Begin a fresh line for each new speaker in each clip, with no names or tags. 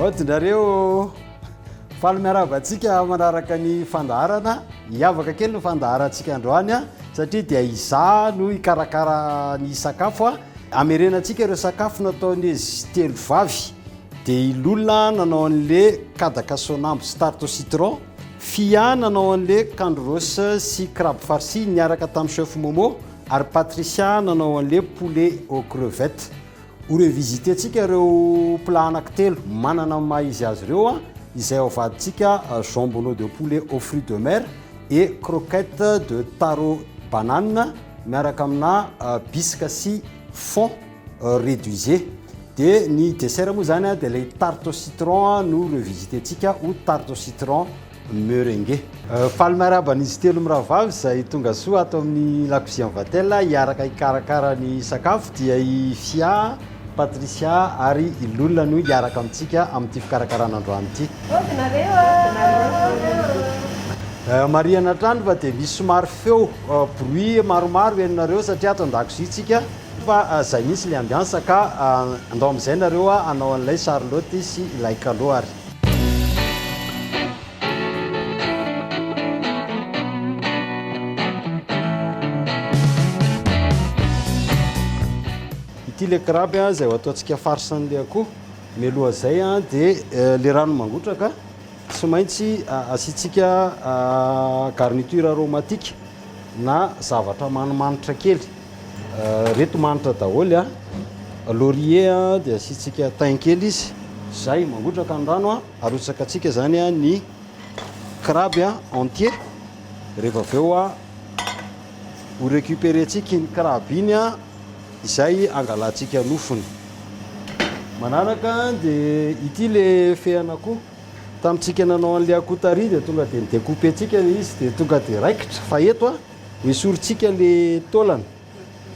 Aodinareo faly miarahaba antsika manaraka ny fandaharana hiavaka kely ny fandaharantsika androany a satria dia izaho no hikarakara ny sakafo a amerenantsika ireo sakafo nataon'izy telo vavy dia i Lola nanao an'le kadaka sonambo sy tarte au citron Fia nanao an'le kandro rose sy crabe farci niaraka tamin'ny chef Momo ary Patricia nanao an'le poulet aux crevettes Ho revisiter-tsika ireo plats anankitelo manana ny maha izy azy ireo izay ao vadintsika jambonneau de poulet aux fruits de mer et croquettes de taro banane miaraka amina bisque sy fond reduisé. Dia ny dessert moa izany dia ilay tarte au citron no revisiter-tsika ho tarte au citron Merengue. Faly miarahaba an'izy telo mirahavavy izay tonga soa ato amin'ny La Cuisine Vatel hiaraka hikarakara ny sakafo dia i Fia, Patricia ary i Lola no hiaraka amintsika amin'ity fikarakarana androany ity. Hody nareo a! Marihana hatrany fa dia misy somary feo bruit maromaro henonareo satria ato an-dakozia tsika fa izay mihitsy ilay ambiance ka andao amin'izay nareo hanao an'ilay charlotte sy ilay kalo ary. Ity le crabe a, zay ataontsika farce n'le akoho. Mialoha zay a, de le rano mangotraka, tsy maintsy asiantsika garniture aromatique na zavatra manimanitra kely. reto manitra daholo a laurier a dia asiantsika thym kely izy zay mangotraka ny rano a arotsaka atsika zany a ny crabe a entier rehefa avy eo a ho récupérer tsika iny crabe iny a izay angalantsika nofony manaraka dia ity le fehana koa tamintsika nanao an'le akoho tary dia tonga dia ni-découper tsika le izy dia tonga dia raikitra fa eto a Esorintsika le taolana.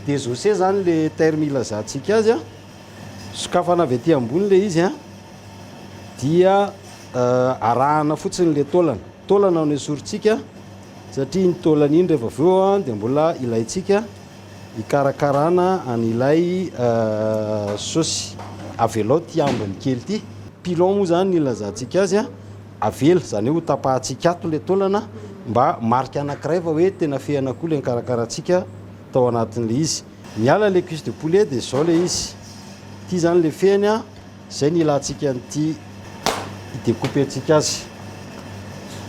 Désossé zany le terme ilazantsika azy a. Sokafana avy aty ambony le izy a. Dia arahana fotsiny le taolana. Taolana no esorintsika satria iny taolana iny rehefa avy eo dia mbola ilaintsika hikarakarana an'ilay saosy. Avelao ity ambiny kely ity. Pilon moa zany no ilazantsika azy a. Avela izany hoe hotapahantsika ato ilay taolana mba marika anankiray fa hoe tena fehana koa ilay nikarakarantsika tao anatin'ilay izy. Niala ilay cuisse de poulet dia izao ilay izy. Ity izany ilay fehiny an, izay ny ilantsika an'ity hi-decouper-ntsika azy.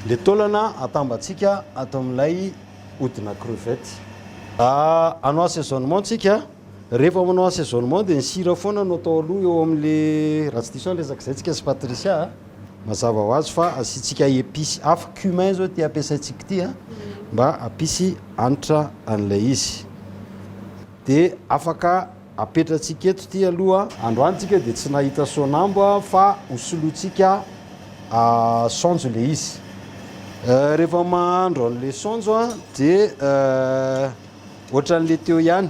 Ilay taolana atambatsika ato amin'ilay hodina crevette. Hanao assaisonnement isika. Rehefa manao assaisonnement dia ny sira foana no atao aloha eo amin'ilay, raha tsy diso aho ny resaka izay tsika sy Patricia a, mazava ho azy fa asiantsika epices hafa, cumin izao ity ampiasaintsika ity a, mba hampisy hanitra an'ilay izy. Dia afaka apetratsika eto ity aloha. Androany tsika dia tsy nahita sonambo a, fa ho solointsika saonjo ilay izy. Rehefa mahandro an'ilay saonjo a dia. Ohatran'le teo ihany,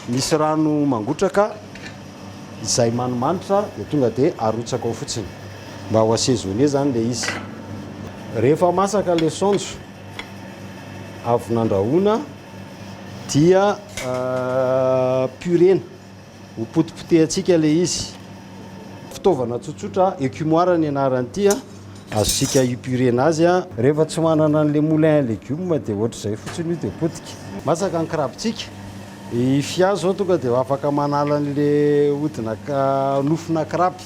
misy rano mangotraka izay manimanitra dia tonga dia arotsaka ao fotsiny mba ho assaisonner zany le izy. Rehefa masaka le saonjo avy nandrahoana dia purena. Ho potipotehantsika ilay izy. Fitaovana tsotsotra, écumoire ny anaran'ity a. Azontsika épurer-na azy a. Rehefa tsy manana an'ilay moulin à légumes dia ohatr'izay fotsiny io dia potika. Masaka ny krabintsika. I Fia izao tonga dia afaka manala an'ilay hodina, nofona kraby.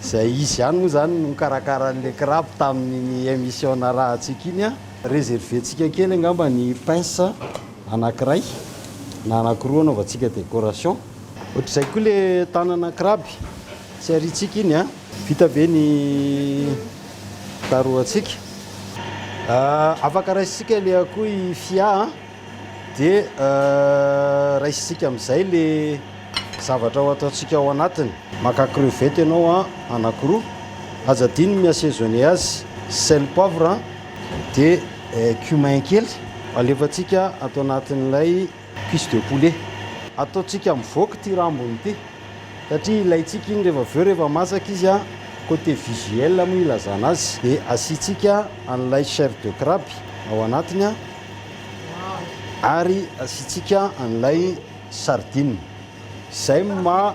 Izay izy ihany moa izany no nikarakara an'ilay kraby tamin'iny émission narahantsika iny a. Réserver-ntsika kely angamba ny pince. anakiray na anakiroa anaovantsika décoration. Ohatr'izay koa le tanana kraby tsy ariantsika iny a. Vita ve ny darohantsika? Afaka raisintsika le akoho i Fia a, de raisintsika amin'izay le zavatra ho ataontsika ao anatiny. Maka crevette ianao a, anakiroa, aza adino ny mi-assaisonner azy, sel, poivre a. Dia cumin kely alefantsika ato anatin'ilay cuisse de poulet. Ataontsika mivoaka ity rambony ity satria ilaintsika iny rehefa avy eo rehefa masaka izy, côté visuel moa ilazana azy. Dia asiantsika an'ilay chair de crabe ao anatiny ary asiantsika an'ilay sardine. Izay no maha.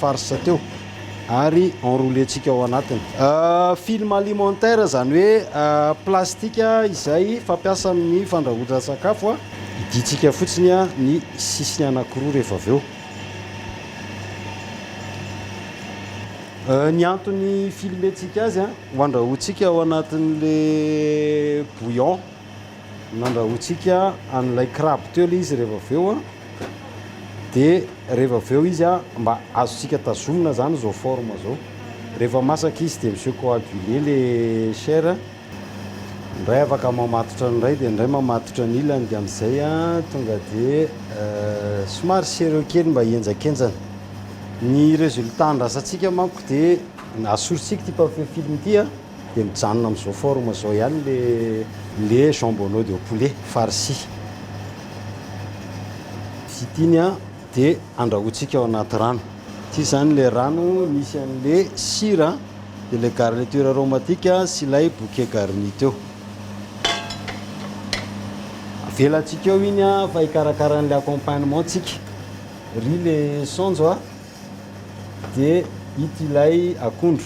farce teo ary enrouler-tsika ao anatiny. Film alimentaire izany hoe plastika izay fampiasa amin'ny fandrahoan-tsakafo, idiantsika fotsiny ny sisiny anankiroa rehefa avy eo. Ny antony filmer-tsika azy ho andrahoantsika ao anatin'ilay bouillon. Nandrahoantsika an'ilay crabe teo ilay izy rehefa avy eo dia rehefa avy eo izy mba azontsika tazomina izany izao forme izao. Rehefa masaka izy dia mi-se coaguler ilay chair, indray afaka mamatotra ny iray dia ny iray mamatotra ny ilany dia amin'izay tonga dia somary serreux kely mba hihenjakenjana. Ny résultat andrasantsika manko dia asorintsika ity papier film ity. Dia mijanona amin'izao forme izao ihany le le jambonneaud au poulet farci. Vita iny an, dia andrahointsika ao anaty rano. Ity izany ilay rano nisy an'ilay sira, dia ilay garniture aromatique sy ilay bouquet garni teo. Avelantsika eo iny an, fa hikarakara an'ilay accompagnement tsika. Ry le saonjo a! dia ito ilay akondro.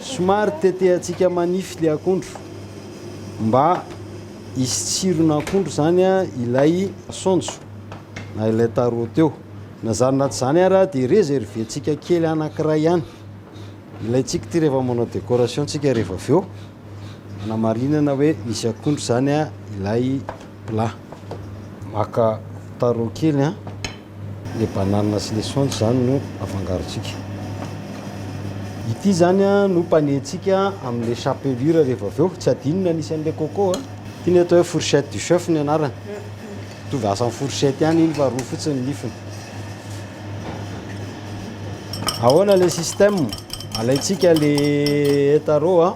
Somary tetehantsika manify ilay akondro mba hisy tsiron'akondro izany ilay saonjo na ilay tarot eo. Na izany na tsy izany ary dia reserventsika kely anankiray ihany. Ilaintsika ity rehefa manao décoration tsika rehefa avy eo anamarinana hoe misy akondro izany ilay plat. Maka tarot kely an. Le banane sy le saonjo zany no afangarontsika. Ity zany no mpanentsika amle chapelure rehefa avy eo, tsy adino ny anisy anle coco a. Ity ny atao hoe fourchette du chef ny anarany. Mitovy asa am fourchette ihany iny fa roa fotsiny ny nifiny. Ahoana le système? Alaintsika le taro a.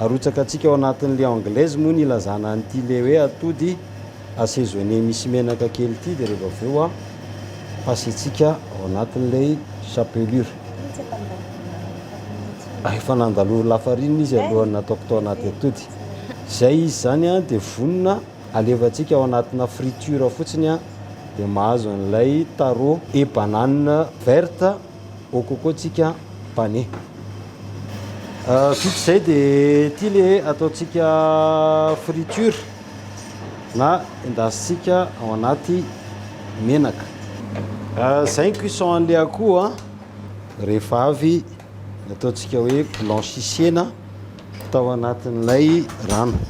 Arotsakantsika ao anatin'ny le anglaise moa ny ilazana an'ity le hoe atody assaisonner misy menaka kely ity dia rehefa avy eo ampasentsika ao anatin'ilay chapelure. Ah, efa nandalo lafarinina izy alohan'ny nataoko tao anaty atody. Izay izy izany an, dia vonona alevantsika ao anatina friture fotsiny an, dia mahazo an'ilay taro et banane verte. Ô kôkô tsika pane. Vita izay dia ity le ataontsika friture na endasintsika ao anaty menaka. Izay ny cuisson an'ilay akoho rehefa avy nataontsika hoe blanchissena tao anatin'ilay rano.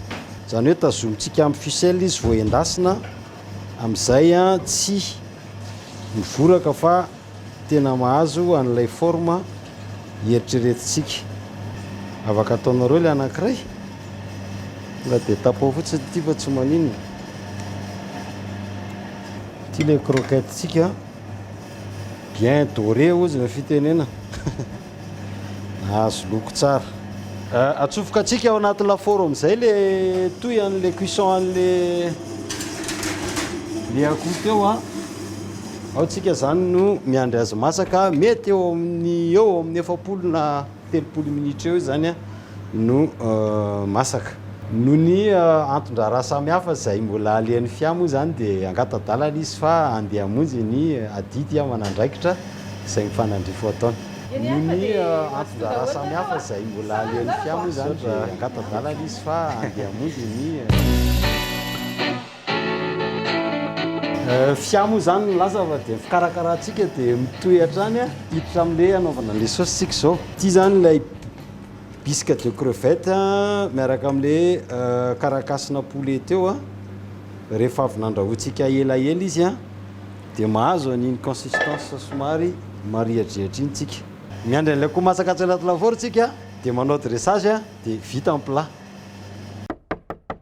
Izany hoe tazomintsika amin'ny ficelle izy vao endasina amin'izay tsy mivoraka fa. Tena mahazo an'ilay forme hieritreretintsika. Afaka ataonareo ilay anankiray. Tonga dia tapoha fotsiny ity fa tsy maninona. Ity ilay croquette-tsika bien doré hozy ny fitenenana. Azo loko tsara. Atsofoka tsika ao anaty lafaoro amin'izay le toy an'le cuisson an'le le akoho teo a. Ao tsika zany no miandry azy masaka, mety eo amin'ny eo amin'ny efapolo na telopolo minitra eo izany a. no masaka. Noho ny anton-draharaha samihafa izay mbola alehan'ny fia moa izany dia angata-dalana izy fa handeha hamonjy ny adidy aman'andraikitra izay mifanandrify ho ataony. Noho ny anton-draharaha samihafa izay mbola alehan'ny fia moa izany dia angata-dalana izy fa handeha hamonjy ny. Fia moa izany no lasa fa dia ny fikarakarantsika dia mitohy hatrany hiditra amin'ilay hanaovana an'ilay saosy isika izao. Ity izany ilay bisque de crevette miaraka amin'ilay karakasina poulet teo. Rehefa avy nandrahointsika elaela izy dia mahazo an'iny consistance somary marihadrihatra iny isika. Miandry an'ilay akoho masaka atsy anaty lafaoro isika dia manao dressage dia vita ny plat.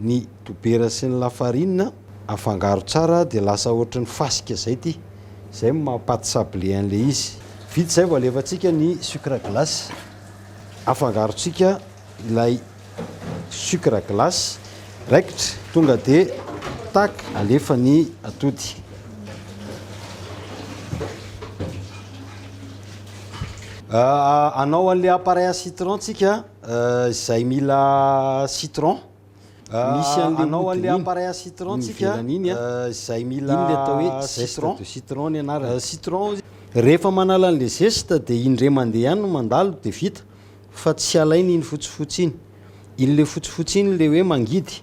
Ny dobera sy ny lafarine afangaro tsara dia lasa ohatry ny fasika zay ty, zay no maha pate sablé an'ilay izy. Vita izay vao alefantsika ny sucre glace. Afangarontsika ilay sucre glace, raikitra tonga dia tac alefa ny atody. Hanao an'ilay appareil à citron tsika. Izay mila citron, misy an'le hodiny iny, iny ivelany iny an, iny le atao hoe zeste de citron ny anarany. Rehefa manala an'le zeste dia indray mandeha ihany no mandalo dia vita fa tsy alaina iny fotsifotsy iny. Iny le fotsifotsy iny le hoe mangidy.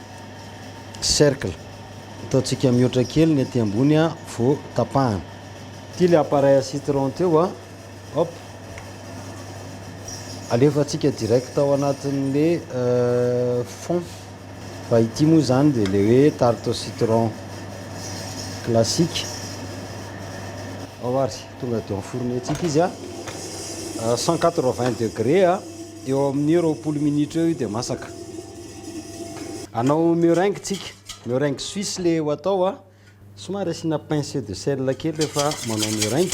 cercle. Ataontsika mihoatra kely ny aty ambony a vao tapahana. Ity ilay appareil à citron teo a. Hop. Alefantsika direct ao anatin'ilay fond. Fa ity moa izany dia ilay hoe tarte au citron classique. Ao ary, tonga dia enfourner-tsika izy a. 180 degrés a, eo amin'ny roapolo minitra eo io dia masaka. Anao meringue tsika, meringue suisse le ho atao a, somary asiana pincée de sel kely rehefa manao meringue,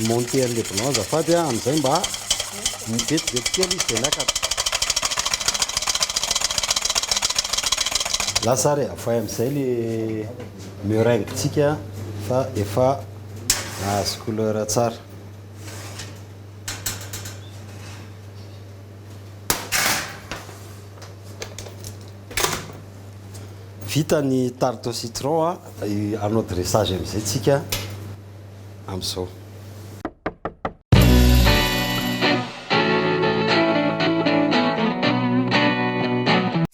monter le blanc azafady a, amin'izay mba vetivety kely izy dia miakatra. Lasa ary avoay amin'izay le meringue tsika fa efa nahazo couleur tsara. Vita ny tarte au citron a, hanao dressage amin'izay tsika amin'izao.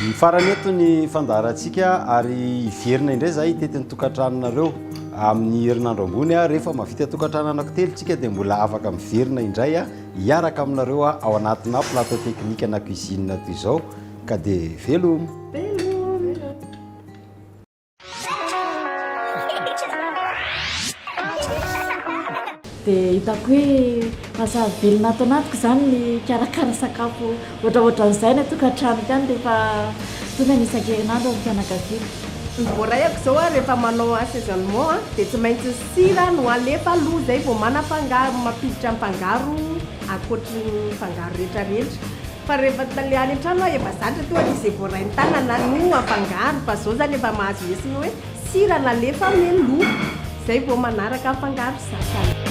Mifarana eto ny fandaharantsika ary hiverina indray izahay hitety ny tokantranonareo amin'ny herinandro ambony. Rehefa mahavita tokantrano anankitelo tsika dia mbola afaka miverina indray hiaraka aminareo ao anatina plateau technique na cuisine toy izao ka dia veloma.
Dia hitako hoe lasa velona ato anatiko izany ny hikarakara sakafo ohatraohatran'izay any an-tokantranoko any rehefa tonga ny isan-kerinandro amin'ny fianakaviako. Ny voaraiako
izao an, rehefa manao assaisonnement an, dia tsy maintsy sira no alefa aloha izay vao manafangaro, mampiditra ny fangaro ankoatry ny fangaro rehetrarehetra. Fa rehefa tsy le any an-trano aho efa zatra toa ny izay voaray ny tanana no afangaro fa zao zany efa mahazo lesona hoe sira nalefa anie ny loha zay vao manaraka afangaro sasany.